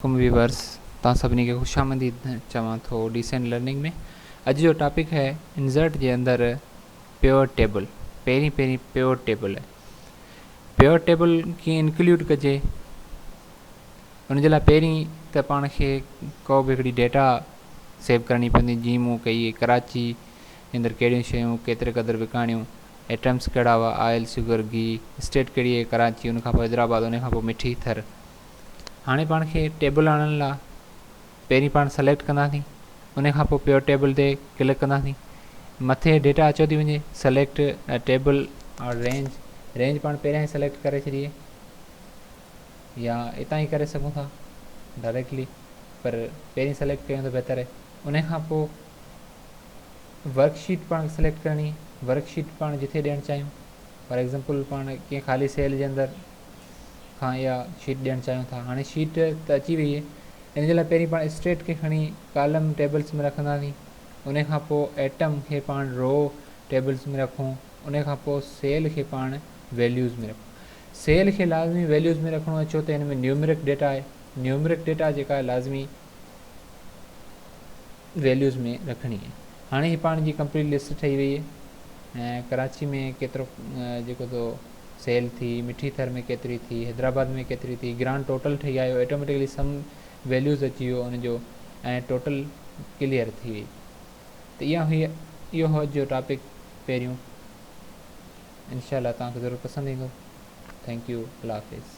عليڪم ويورس توهان سڀني کي خوش آمديد چوان ٿو ڊيسنٽ لرننگ ۾ اڄ جو ٽاپڪ هي انزرٽ جي اندر پيوٽ ٽيبل پهرين پهرين پيوٽ ٽيبل پيوٽ ٽيبل ڪيئن انڪلوڊ ڪجي ان جي لاء پهرين ته پاڻ کي ڪو به هڪڙي ڊيٽا سيو ڪرڻي پوندي جي مون ڪئي ڪراچي اندر ڪهڙيون شيون ڪيتري قدر وڪاڻيون ايٽمس ڪهڙا هئا آئل شوگر گي اسٽيٽ ڪهڙي هئي ڪراچي ان کان پوء حيدرآباد ان کان پوء مٺي ٿر هاڻي پاڻ کي ٽيبل آڻڻ لا پهرين پاڻ سليڪٽ ڪنداسين ان کان پوء پيور ٽيبل تي ڪلڪ ڪنداسين مٿي ڊيٽا اچيو ٿي وڃي select table or range range پاڻ پهريان ئي سليڪٽ ڪري ڇڏي يا اتان ئي ڪري سگهون ٿا ڊائريڪٽلي پر پهرين سليڪٽ ڪيون ته بهتر آهي ان کان پوء ورڪ شيٽ پاڻ سليڪٽ ڪرڻي ورڪ شيٽ پاڻ جتي ڏيڻ چاهيون فار ايگزامپل پاڻ ڪنهن خالي سيل جي اندر کان اها شيٽ ڏيڻ چاهيون ٿا هاڻي شيٽ ته اچي وئي آهي ان جي لاء پهرين پاڻ اسٽريٽ کي کڻي ڪالم ٽيبلز ۾ رکنداسين ان کان پوء ايٽم کي پاڻ رو ٽيبلز ۾ رکون ان کان پوء سيل کي پاڻ ويليوز ۾ رکون سيل کي لازمي ويليوز ۾ رکڻو آهي ڇو ته هن ۾ نيومرڪ ڊيٽا آهي نيومرڪ ڊيٽا جيڪا لازمي ويليوز ۾ رکڻي آهي هاڻي هي پاڻ جي ڪمپليٽ لسٽ ٺهي وئي آهي ۽ ڪراچي ۾ ڪيترو جيڪو تو سيل ٿي مٺي ٿر ۾ ڪيتري ٿي حيدرآباد ۾ ڪيتري ٿي گرانڊ ٽوٽل ٺهي آيو آٽوميٽڪلي سم ويليوز اچي ويو ان جو ۽ ٽوٽل ڪليئر ٿي وئي ته اها هئي اهو هو جو ٽاپڪ پهريون انشاء الله توهان کي ضرور پسند ايندو ٿينڪ يو الله حافظ